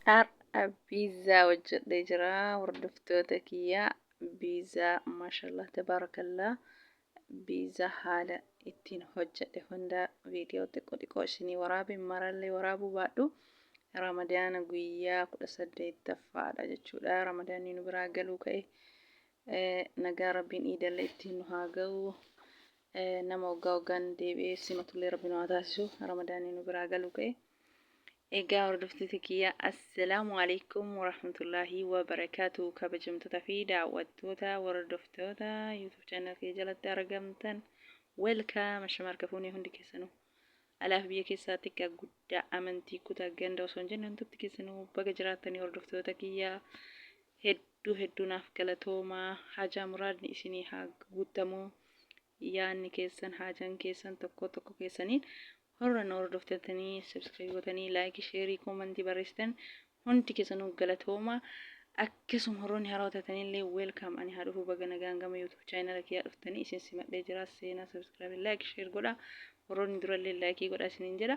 Har'a biizzaa hojjedhee jira hordoftoota kiyya biizzaa maashallah tabaarakallaa biizzaa haala ittiin hojjedhe hunda viidiyoo xiqqoo xiqqoo isinii waraabe marallee waraabuu baadhu ramadaana guyyaa kudha saddeettaffaadha jechuudha ramadaanni nu biraa galuu ka'e nagaa rabbiin iidallee ittiin nu haa ga'u nama waggaa waggaan deebi'ee simatullee rabbi nu haa taasisu ramadaanni nu biraa galuu ka'e. Egaa hordoftoota kiyya assalaamu alaikum warahmatullaahi wabarakaatu kabajamtoota fi daawwattoota hordoftoota YouTube channel kee jalatti argamtan welcome ashama harka fuunee hundi keessanuu alaaf biyya keessaa xiqqaa guddaa amantii kutaa ganda osoo hin jenne hundumti keessanuu baga jiraattanii hordoftoota kiyya hedduu hedduu naaf galatoomaa hajaa muraadni isinii haa guuttamu yaadni keessan haajaan keessan tokkoo tokko keessaniin horra na hordoftatanii subscribe gootanii like sheerii koomantii barreessitan hundi keessanuu galatooma akkasuma horroonni haaraa tatanillee welcome ani haa dhufuu baga nagaan gama youtube chaayinala kiyyaa dhuftanii isin simadhee jira seenaa subscribe like share godha horroonni durallee like godha isiniin jedha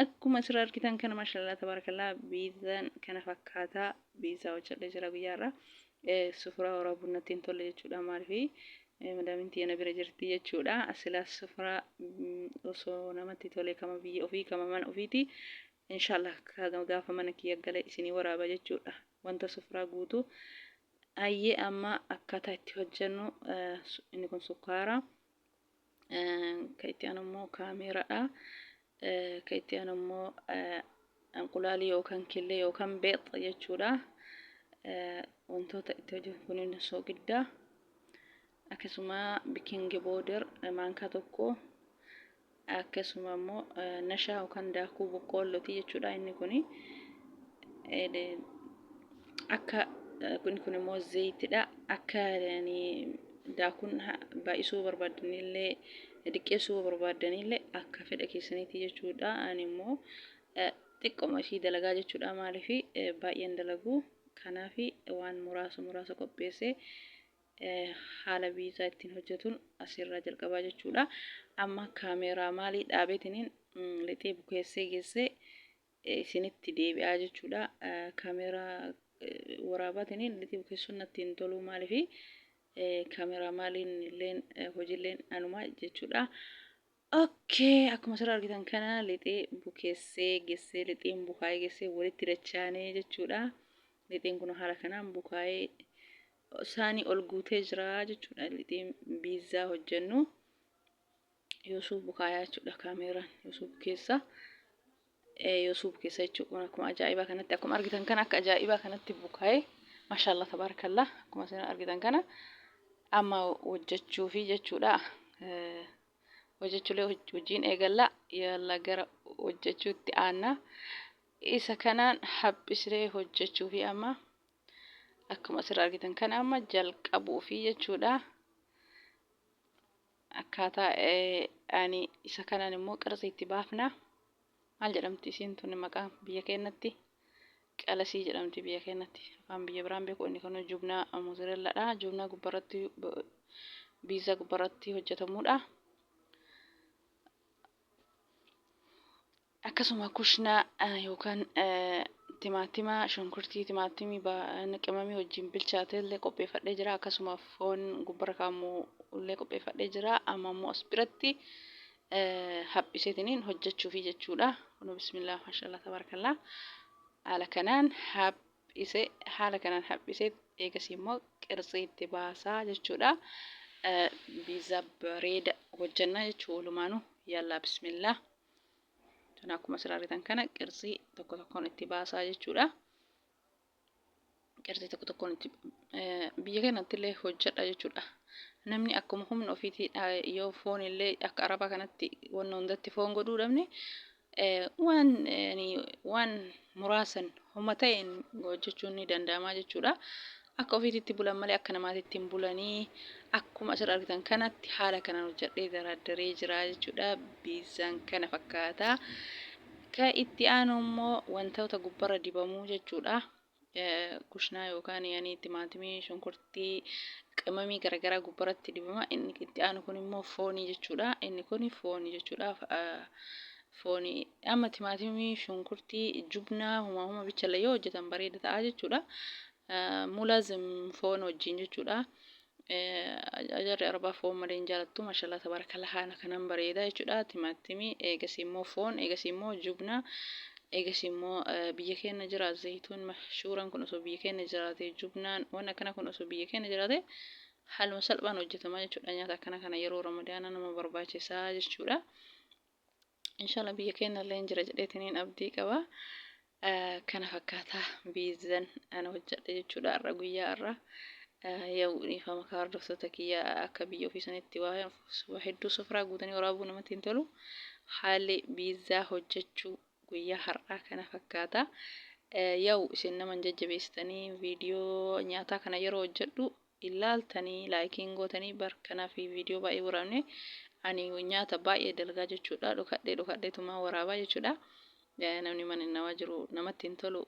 akkuma asirra argitan kana mashallah tabarakallah biizaan kana fakkaata biizaa hojjedhee jira guyyaarra sufuraa horaa bunnatti hin tolle jechuudha maaliif Madaamin tiyya na bira jirti jechuudha. Silaas sufraa osoo namatti tole kama biyya ofii kama mana ofiiti. Inshaallah gaafa mana kiyya gale isinii waraaba jechuudha. Wanta sufraa guutu. Ayyee amma akkaataa itti hojjennu inni kun sukkaara. Kan itti aanu immoo kaameeraadha. Ka itti aanu immoo anqulaali yookaan killee yookaan beex jechuudha. Wantoota itti hojjetu kunin soogidda. Akkasuma bikingi booder maankaa tokko akkasuma immoo nashaa yookaan daakuu boqqoollooti jechuudha inni kun akka kun kun immoo zayitidha akka daakuun baay'isuu barbaadnillee Diqqeessuu yoo barbaaddanillee akka fedha keessaniitti jechuudha. Ani immoo xiqqoma ishii dalagaa jechuudha. Maaliif baay'een dalagu. Kanaaf waan muraasa muraasa qopheessee haala viizaa ittiin hojjetuun asirraa jalqabaa jechuudha. Amma kaameeraa maalii dhaabeetiniin lixee bukeessee geessee isinitti deebi'aa jechuudha kaameeraa waraabaatiin itti bukeessuun natti hin toluu maaliif kaameeraa maaliin illeen hojiilleen anuma jechuudha. Okkee akkuma sirra argitan kana lixee bukeessee gessee lixeen bukaa'ee gessee walitti dachaanee jechuudha. Lixeen kun haala kanaan bukaa'ee saanii ol guutee jira jechuudha. Lixeen biizzaa hojjennu Yusuf Bukaayaa jechuudha kaameeraan Yusuf keessa Yusuf keessa jechuudha akkuma ajaa'ibaa kanatti akkuma argitan kana akka ajaa'ibaa kanatti bukaa'ee maashaallah tabaarakallah akkuma isin argitan kana amma hojjechuu fi jechuudha hojjechuulee hojiin eegalla yalla gara hojjechuutti aanna isa kanaan haphisree hojjechuu fi amma akkuma asirra argitan kana amma jalqabuu fi jechuudha akkaataa ani isa kanaan immoo qarsi itti baafna maal jedhamti isiin tuni maqaa biyya keenyatti qalasii jedhamti biyya keenyatti afaan biyya biraan beeku inni kun jubnaa mozireelladha jubnaa gubbarratti biizaa gubbarratti hojjetamuudha akkasuma kushna yookaan timaatima shunkurtii timaatimii qimamii wajjin bilchaate illee qopheeffadhee jira akkasuma foon gubbara kaamu illee qopheeffadhee jira amma immoo as biratti haphiseetiniin hojjechuufi jechuudha kunu bismillah mashallah tabarakallah haala kanaan haphi dhiise haala kanaan haphisee eegasii immoo qirtsii itti baasaa jechuudha. Biizaa bareeda hojjannaa jechuudha walumaanuu yallaa bismillaa. Tana akkuma asirraa argitan kana qirtsii tokko tokkoon itti baasaa jechuudha. Qirtsii tokko tokkoon itti biyya kanatti illee hojjedha jechuudha. Namni akkuma humna ofiitii yoo foon illee akka arabaa kanatti wanna hundatti foon godhuu dhabne waan muraasan homa ta'een hojjechuun ni danda'ama jechuudha. Akka ofiititti bulan malee akka namaatitti hin bulanii akkuma asirra argitan kanatti haala kanaan hojjedhee daraaddaree jira jechuudha. Biizaan kana fakkaata. Ka itti aanu immoo wantoota gubbarra dibamuu jechuudha. kushnaa yookaan yani timaatimii, shunkurtii, qimamii garagaraa gubbaratti dibama. Inni itti aanu kun immoo foonii jechuudha. Inni kun foonii jechuudha. Foonii amma timaatimii, shunkurtii, jubnaa humaa huma bichallee yoo hojjetan bareeda ta'a jechuudha. Mulazim foon wajjin jechuudha. Jarri arbaa foon malee hin jaalattu mashallah tabarakallah haala kanan bareeda jechuudha timaatimi eegasii immoo foon eegasii immoo jubna eegasii immoo biyya keenya jira zayituun mashshuuran kun osoo biyya keenya jiraate jubnaan waan akkana kun osoo biyya keenya jiraate haaluma salphaan hojjetama jechuudha nyaata akkana kana yeroo ramadaana nama barbaachisa jechuudha. Inshallah biyya keenya illee hin jira jedheetiniin abdii qaba. Kana fakkaata biizan ana hojjedhe jechuudha har'a guyyaa har'a. Yoo dhiifama kaa hordoftoota kiyya akka biyya ofii sanitti waa hedduu sofraa guutanii waraabuu namatti hin tolu. Haalli biizaa hojjechuu guyyaa har'aa kana fakkaata. Yoo isin nama hin jajjabeessitanii viidiyoo nyaataa kana yeroo hojjedhu ilaaltani like hin gootani bar kanafi video baay'ee waraabne ani nyaata baay'ee dalgaa jechuudha dhokadhe dhokadhetumaa waraabaa jechuudha namni mana namaa jiru namatti hin tolu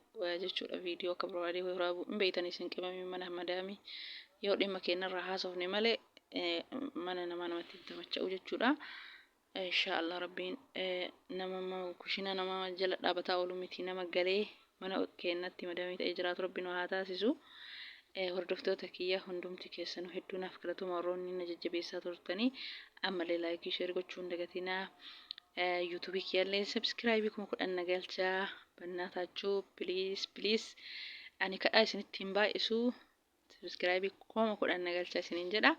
jechuudha video akka barbaadee waraabu hin beeytani isin qimamii mana madaamii yoo dhimma keenyarraa haasofne malee mana namaa namatti hin tamacha'u jechuudha Insha Allah rabbiin nama kushina nama jala dhaabataa oolu miti nama galee mana keennatti madamii ta'ee jiraatu rabbi nu haa taasisu. Hordoftoota kiyya hundumti keessanuu hedduu naaf galatuma warroonni na jajjabeessaa turtanii ammallee laayikii sheer gochuu hin dagatinaa. Yuutuubii kiyyallee sabskiraayibii kuma kudhan na galchaa bannaa taachuu piliis piliis ani kadhaa isinitti hin baay'isu Subscribe kuma kudhan na galcha isiniin jedha.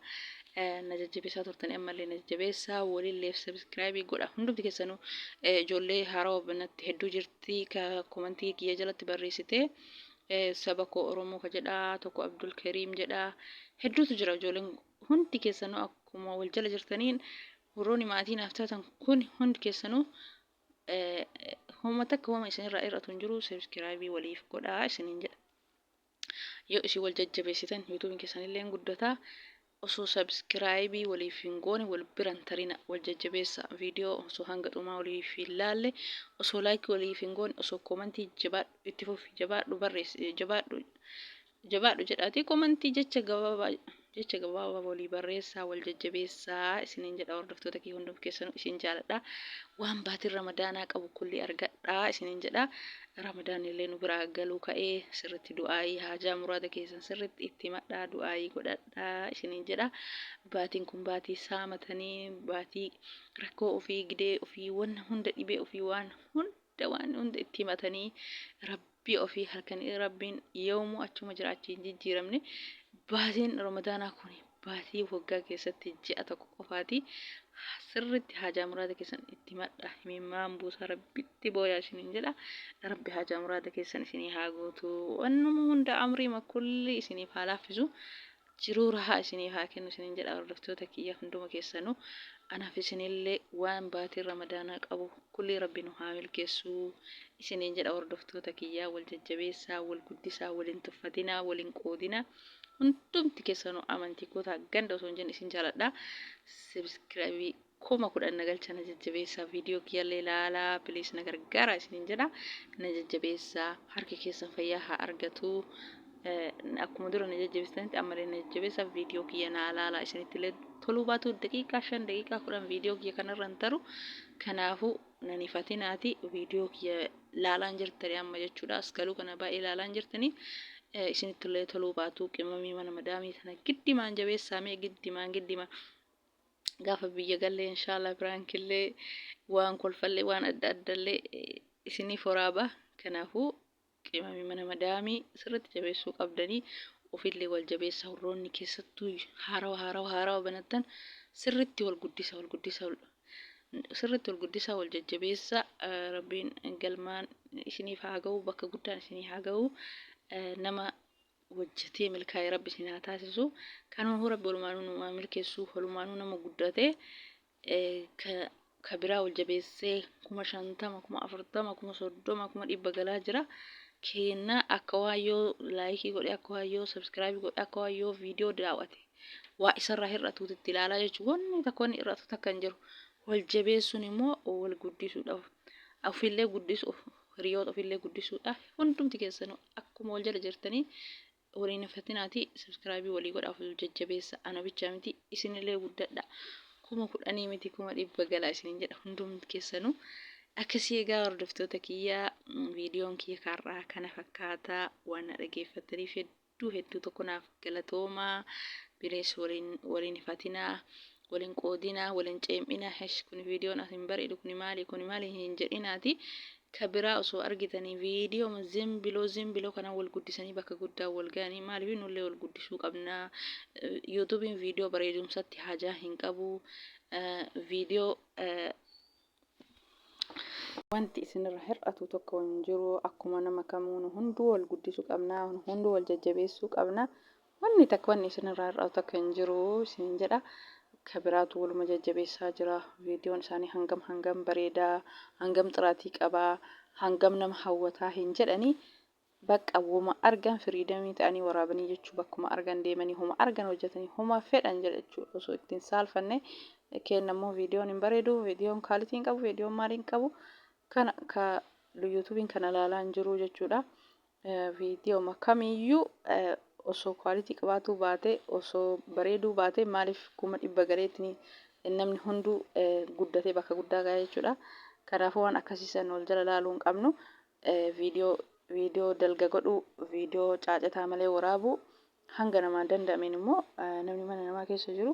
Na jajjabeessaa turtanii ammallee na jajjabeessaa waliilleef subscribe godha. Hundumti keessanuu ijoollee haarawaa banatti hedduu jirti ka komantii kiyya jalatti barreessite. Saba koo Oromoo ka jedha tokko Abdul Kariim jedha. Hedduutu jira ijoolleen hundi keessanuu akkuma wal jala jirtaniin warroonni maatii naaf taatan kun hundi keessanuu homa takka homa isinirraa irratu hin jiru subscribe waliif godhaa isiniin jedha. Yoo isin wal jajjabeessitan yuutuubiin keessan illee hin guddata. Osoo sabiskiraayibii waliif hin goone wal bira hin tarina. Wal jajjabeessa. Viidiyoo osoo hanga dhumaa waliif hin laalle osoo laayikii waliif hin goone osoo koomantii jabaadhu itti fufi jabaadhu barreessi jabaadhu jabaadhu jedhaatii koomantii jecha gabaabaa Jecha gabaabaa walii barreessaa, wal jajjabeessaa isiniin jedha hordoftoota kiyya hundum keessanuu isin jaaladha. Waan baatiin Ramadaanaa qabu kulli argadhaa isiniin jedha. Ramadaanni illee nu biraa galuu ka'ee sirritti du'aayii haajaa muraada keessan sirritti itti himadhaa du'aayii godhadhaa isiniin jedha. Baatiin kun baatii saamatanii baatii rakkoo ofii gidee ofii wanna hunda dhibee ofii waan hunda Dawaan hunda itti himatanii rabbii ofii halkanii rabbiin yoomuu achuma jira achi hin jijjiiramne baasiin ramadaanaa kun baasii waggaa keessatti ji'a tokko qofaati sirritti haajaa muraada keessan itti himadha himimmaan buusaa rabbitti booyaa isiniin jedha rabbi haajaa muraada keessan isinii haa guutu wannuma hunda amriima kulli isiniif haa laaffisu jiruu rahaa isinii haa kennu isinin jedha hordoftoota kiyya hunduma keessanu anaf isinille waan baatiin ramadaanaa qabu kullii rabbi nu haa milkeessuu isinin jedha hordoftoota kiyya wal jajjabeessaa wal guddisaa wal hin tuffatinaa wal hin qoodinaa hundumti keessanu amantii kotaa ganda osoo hin jenne isin jaaladha sebiskirabii kuma kudhan na galcha na jajjabeessa viidiyoo kiyyallee ilaalaa please na gargaara isiniin jedha na jajjabeessa harki keessan fayyaa haa argatu akkuma dura na jajjabeessitanitti ammallee na jajjabeessa viidiyoo kiyya na ilaalaa isinitti illee toluu baatu daqiiqaa shan daqiiqaa kudhan viidiyoo kiyya kanarra hin taru kanaafuu nan ifatinaati viidiyoo kiyya laalaan jirtanii amma jechuudha as galuu kana baay'ee laalaan jirtanii isinitti illee toluu baatu qimamii mana madaamii sana giddimaan jabeessaamee giddimaan giddimaan gaafa biyya galle inshallah piraankillee waan kolfallee waan adda addallee isiniif horaaba kanaafuu qimamii mana madaamii sirriitti jabeessuu qabdanii ofillee wal jabeessa warroonni keessattuu haarawa haarawa haarawa banattan sirriitti wal guddisa wal guddisa sirriitti wal guddisa wal jajjabeessa rabbiin galmaan isiniif haa ga'u bakka guddaan isinii haa ga'u nama hojjatee milkaa'e rabbi isin haa taasisu kanumahu rabbi walumaanuu nu haa milkeessu walumaanuu nama guddaa ta'e ka biraa ol jabeessee kuma shantama kuma afurtama kuma soddoma kuma dhibba galaa jira keenna akka waan yoo laayikii godhe akka waan yoo sabskiraabii godhe akka waan yoo viidiyoo daawwate waa isarraa hir'atuuti itti ilaalaa jechuun wanni takka wanni hir'atu takka hin jiru wal jabeessuun immoo wal guddisuudhaaf ofiillee guddisuuf hiriyoota ofiillee guddisuudhaaf hundumti keessanuu Akkuma wal jala jirtanii wal hin hafatinaatii subscribe walii godhaa ofif jajjabeessa ana bichaa miti isinillee guddadha kuma kudhanii miti kuma dhibba galaa isinin jedha hundum keessanu akkasii egaa hordoftoota kiyya viidiyoon kiyya kaarraa kana fakkaata waan na dhageeffattaniif hedduu hedduu tokko naaf galatoomaa binees waliin waliin fatinaa Wal hin qoodinaa wal hin ceem'inaa hesh kuni viidiyoon as hin bareedu kuni maali kuni maali hin jedhinaati ka biraa osoo argitanii viidiyooma zimbiloo zimbiloo kana wal guddisanii bakka guddaa wal ga'anii maaliif nullee wal guddisuu qabnaa yuutuubiin viidiyoo bareedumsatti hajaa hin qabu viidiyoo Wanti isinirra hir'atu tokko hin jiru. Akkuma nama kamuu nu hunduu wal guddisuu qabna, nu hunduu wal jajjabeessuu qabna. Wanni takka wanni isinirraa hir'atu takka hin jiru isiniin jedha. Ka biraatu waluma jajjabeessaa jira. Viidiyoon isaanii hangam hangam bareeda, hangam xiraatii qaba, hangam nama hawwata hin jedhanii Baqqa woma argan freedom ta'anii waraabanii jechuu bakkuma argan deemanii homa argan hojjatanii homa fedhan jedhachuu osoo itti hin saalfanne keenna immoo viidiyoon hin bareedu viidiyoon kaalitii hin qabu viidiyoon maalii hin qabu kana ka yuutuubiin kana ilaalaa hin jiruu jechuudha viidiyooma kamiyyuu osoo kaalitii qabaatuu baate osoo bareeduu baate maaliif kuma dhibba galeetini namni hunduu guddatee bakka guddaa ga'aa jechuudha kanaafuu waan akkasiisan wal jala laaluu hin qabnu viidiyoo viidiyoo dalga godhuu viidiyoo caacataa malee waraabuu hanga namaan danda'ameen immoo namni mana namaa keessa jiru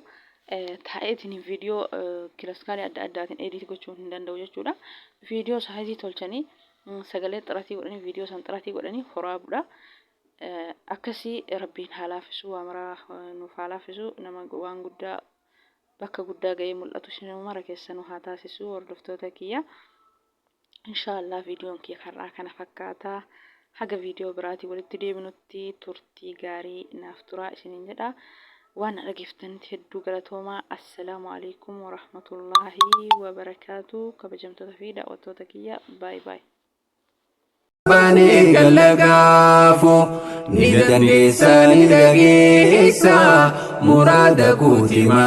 taa'eetiin viidiyoo kilaskaalee adda addaatiin ediit gochuu hin danda'u jechuudha. Viidiyoo saayizii tolchanii sagalee xiratii godhanii viidiyoo san xiratii godhanii horaabuudha. Akkasii rabbiin haa laafisuu waa maraa nuuf haa laafisuu nama waan guddaa bakka guddaa ga'ee mul'atu sinuu mara keessanuu haa taasisuu hordoftoota kiyya. Inshaallah viidiyoon kee har'aa kana fakkaata. Haga viidiyoo biraatii walitti deebinutti turtii gaarii naaf turaa isiniin jedha. Waan dhageeffatanitti hedduu galatoomaa. Assalaamu alaikum warahmatullaahi wabarakaatu. Kabajamtoota fi daawwattoota kiyya baay baay. Bani galagaafu ni dandeessa ni dhageessa muraada kuutima.